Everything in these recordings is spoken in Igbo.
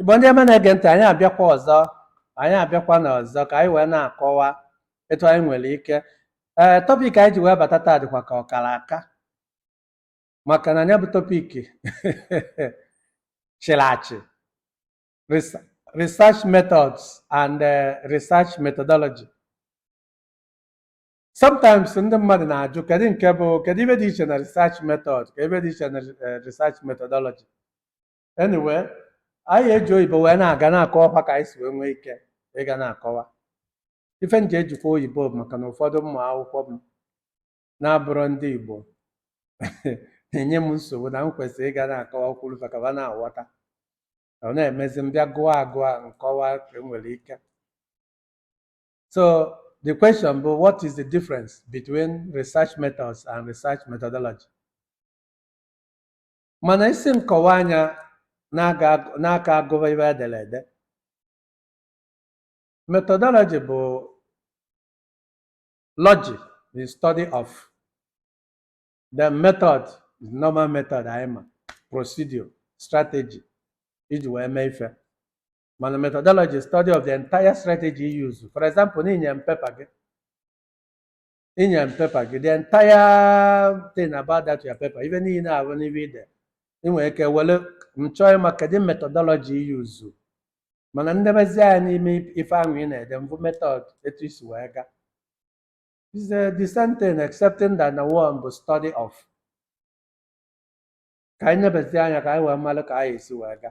Igbo ndị ọma na-ege ntị, anyị abịakwa ọzọ, anyị abịakwana ọzọ ka anyị wee na-akọwa etu anyị nwere ike. Ee, eh, tọpik anyị ji wee bata taa dịkwa ka ọ kara aka maka na ya bụ tọpik chịrị achị research methods and eh, research methodology. Sometimes ndị mmadụ na-ajụ kedu nke bụ kedu ife dị iche na research method ka ife dị iche na eh, research methodology anyway anyị eji oyibo wee na-aga na-akọwakwa ka anyị si wee nwee ike ịga na-akọwa ife m ji ejikwa oyibo bụ maka na ụfọdụ ụmụ akwụkwọ m na-abụrọ ndị igbo na-enye m nsogbu na m kwesịrị ịga na-akọwakwuru ka ha na-aghọta ọ na-emezi m bịa gụọ agụọ m kọwa ka e nwere ike so the question bụ what is the difference between research methods and research methodology Mana ị sị m kọwaa nya n'aka agụ- n'aka agụba ife e dere ede. Methodology bụ logic, the study of the method, is normal method anyị ma, procedure, strategy i ji wee mee ife. Mana methodology is study of the entire strategy you use. For example, na i nye m pepa gị, i nye m pepa gị the entire thing about that your paper ife niile ahụ n'ife i de ị nwere ike were m chọọ ịma kedu methodology i yuzu mana m nebezi anya n'ime ife ahụ ị na-ede m fụ method etu i si wee ga is the the same thing excepting that the one bụ study of ka anyị nebezi anya ka anyị wee mara ka anyị esi wee ga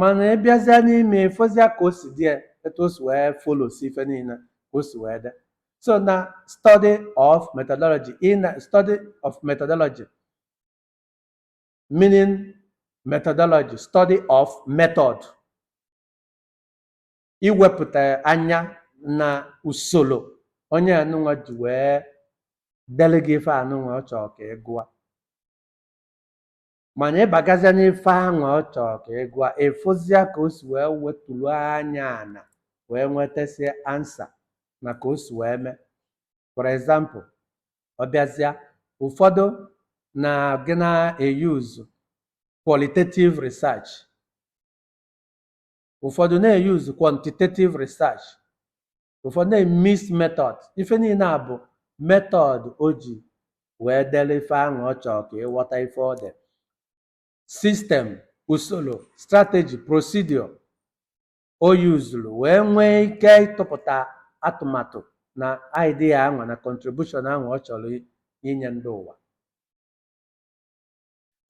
mana ị bịazịa n'ime ya, ị fụzịa ka o si dee ya, etu o si wee folosi ife niile ka o si wee dee so na study of methodology ị na study of methodology meaning methodology study of method iwepụta anya na usoro onye anụnwa ji wee dele gị ife anụnwa ọ chọrọ ka ị gụa mana ị bagazịa n'ife anwa ọ chọrọ ka ị gụa ị fụzịa ka o si wee weturu anya ana wee nwetasie ansa na ka o si wee mee for example ọ bịazịa ụfọdụ na gị na-eyuzu qualitative research ụfọdụ na-eyuzu quantitative research ụfọdụ na mixed method ife niile a bụ method o ji wee dere ife ahụ ọ chọrọ ka ị ghọta ife ọ dị system usoro strategy procedure o yuzuru wee nwee ike ịtụpụta atụmatụ na idea ahụ na contribution ahụ ọ chọrọ i- inye ndị ụwa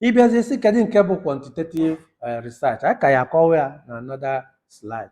ị bịazie sị kedu nke bụ quantitative eh, research a ka ya akọwa ya na another slide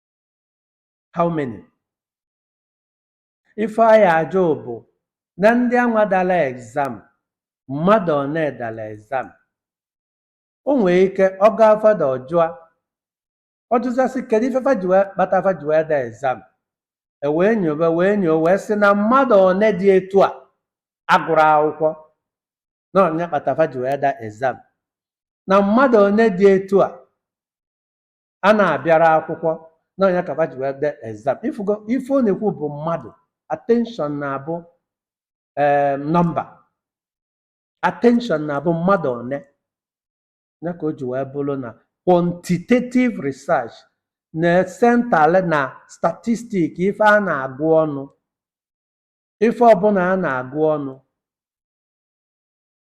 how many ife a ya-ajụ bụ na ndị anwa dala exam mmadụ one dala exam o nwere ike ọ gaa further ọ jụa ọ jụzie sị kedu ife fa ji wee kpata fa ji wee da exam e wee nyobe wee nyoo wee sị na mmadụ one dị etu a agụrọ akwụkwọ na ọ nya kpata fa ji wee da exam na mmadụ one dị etu a a na-abịarọ akwụkwọ na ọ nya ka fa ji wee da exam ị fụgo ife ọ na-ekwu bụ mmadụ attention na-abụ ee nọmba attention na-abụ mmadụ one ya ka o ji wee bụrụ na quantitative research na-esentale na statistic ife a na-agụ ọnụ ife ọbụla a na-agụ ọnụ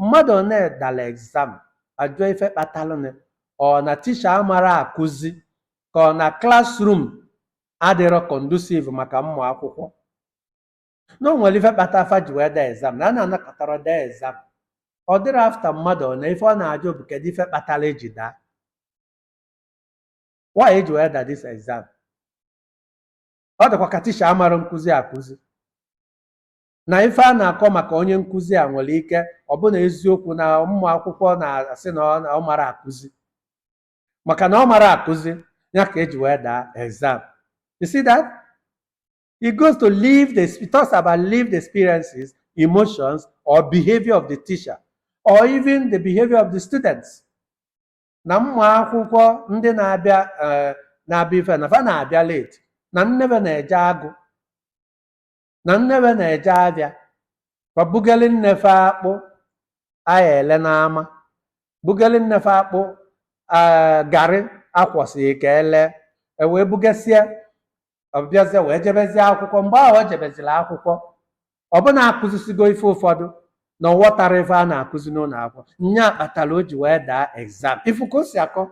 mmadụ one dala exam ajụọ ife kpatalụnụ ọ na tisha amarọ akụzi ka ọ na classroom adịrọ conducive maka ụmụ akwụkwọ na o nwere ife kpata fa ji wee daa exam na a na-anọkatarọ daa exam ọ dịrọ after mmadụ one ife ọ na-ajụ bụ kedu ife kpatara e ji daa why e ji wee da this exam ọ dịkwa ka tisha amarọ nkụzi akụzi na ife a na-akọ maka onye nkụzi a nwere ike ọ bụ na eziokwu na ụmụ akwụkwọ na-asị na ọ- na ọ marọ akụzi maka na ọ marọ akụzi ya ka e ji wee daa exam you see that it goes to live the it talks about lived experiences emotions or behavior of the teacher or even the behavior of the students na ụmụ akwụkwọ ndị na-abịa eh, na-abịa ife na fa na-abịa late na nne fe na-eje agụ na nne fe na-eje afịa fa bugeli nne fe akpụ a ya-ele n'ama bugeli nne fe akpụ ee garị a kwọsịrị ka e lee e wee bugasịa ọ bịazie wee jebezie akwụkwọ mgbe ahụ o jebeziri akwụkwọ ọ bụ na a kụzisigo ife ụfọdụ na ọ ghọtarọ ife a na-akụzi n'ụlọ akwụkwọ nya kpatara o ji wee daa exam ị fụ ka o si akọ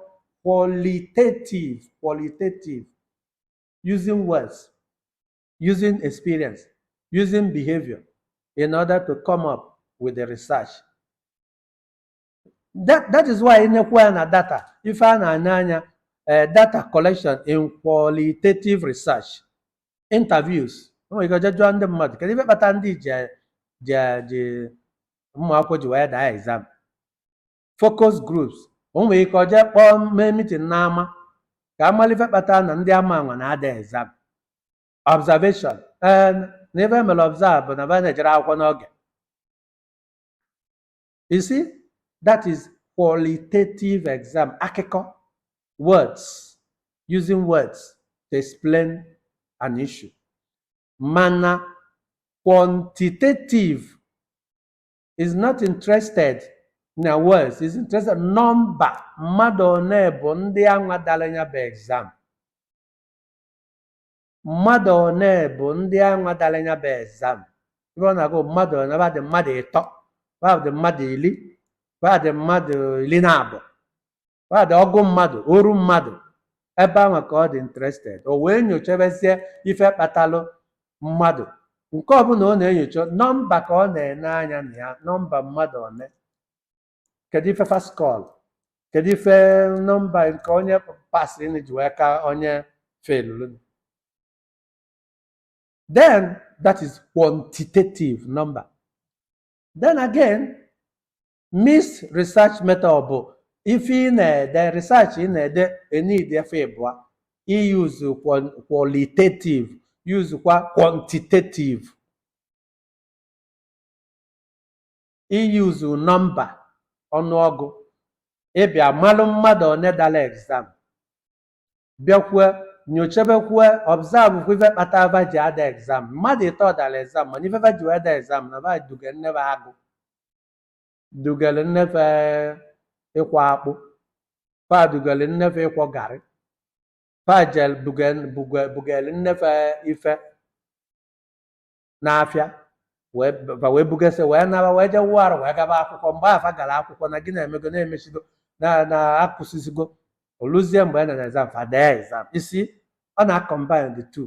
qualitative qualitative using words using experience, using behavior in order to come up with the research. That, that is why ị na-ekwu ya na data ife a na-ene anya eh, data collection in qualitative research interviews o nwere ike ọ jee jụọ ndị mmadụ kedu ife kpata ndị ji ji ji ụmụ akwụkwọ ji wee daa exam focus groups o nwere ike ọ jee kpọọ mee meeting n'ama ka a malụ ife kpata na ndị ama anwa na-ada exam observation ee na ife e mere observe bụ na ba na-ejere akwụkwọ n'oge you see that is qualitative exam akụkọ words using words to explain an issue mana quantitative is not interested na words is interested nọmba mmadụ one bụ ndị anwa dara ya bụ exam mmadụ one bụ ndị anwa dara ya bụ exam ebe ọ na-agụ mmadụ one ba dị mmadụ ịtọ ba dị mmadụ iri ba dị mmadụ iri na abụọ ba dị ọgụ mmadụ oru mmadụ ebe ahụ ka ọ dị interested o wee nyochabezie ife kpatalụ mmadụ nke ọbụla ọ na-enyocha nọmba ka ọ na-ene anya na ya nọmba mmadụ one kedu ife fa scorelụ kedu ife nọmba nke onye pasịnị ji wee ka onye felụrụ then that is quantitative number then again Mixed research method bụ ife ị na-ede research ị na-ede ị need ife ịbụa i use qualitative use kwa quantitative i use nọmba ọnụọgụ ị bịa malụ mmadụ one dara exam bịakwue nyochebekwue observe kwa ife kpata va ji ada exam mmadụ ịtọ dara exam mana ife va ji wee da exam na va duga nne ba agụ dugara nne fa ịkwọ akpụ fa dugara nne fa ịkwọ garị fa jee buga- buga- bugara nne fa ife n'afịa wee fa wee bugasị wee naba wee jee wụọ arụ wee gaba akwụkwọ mgbe fa gara akwụkwọ na gịnị emego na emechigo na na akwụsịzigo o luzie mgbe a na exam fa daa exam ị see ọ na-combine the two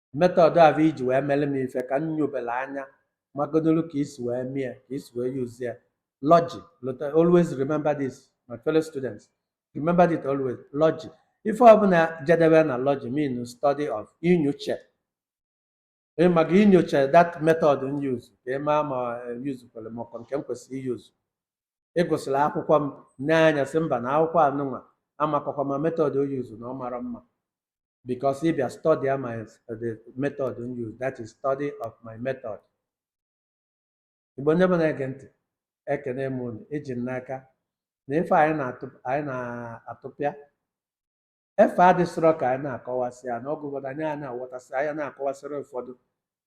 method ahụ i ji wee mere m ife ka m nyobere anya magodoro ka i si wee mie ka i si wee use ya logy lota always remember this my fellow students remember it always logy ife ọbụla jedebe na logy mean study of inyocha Ee, maka inyocha that method m use ka ị maa ma use kwere ma ọkwa nke m kwesịrị i-use ị gụsịrị akwụkwọ m n'anya sị mba na akwụkwọ anụnwa amakọkwa ma method ọ use na ọ mara mma because if you study my uh, the method m use that is study of my method igbo ndị Igbo na-ege ntị ekene m unu eji m n'aka na ife anyị na-atụ anyị na-atapịa ife adịsịrọ ka anyị na-akọwasị ya na ọgụ ụfọdụ anyị a na-aghọtasị anyị na-akọwasịrị ụfọdụ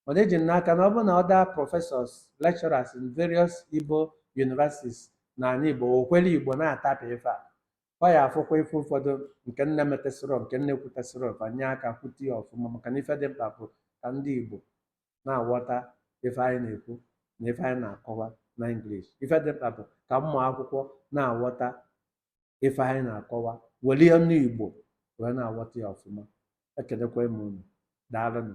mana eji m n'aka na ọ bụrụ na other professors lecturers in various Igbo universities na ala Igbo okwere Igbo na-atapị ife a ọ ya afụkwa ife ụfọdụ nke m na-emetesịrọ nke m na-ekwutesịrọ fa nye aka kwute ya ọfụma maka na ife dị mkpa bụ ka ndị Igbo na-aghọta ife anyị na-ekwu na ife anyị na-akọwa na English ife dị mkpa bụ ka ụmụ akwụkwọ na-aghọta ife anyị na-akọwa were ya n'Igbo wee na-aghọta ya ọfụma ekelekwa m unu daalụnụ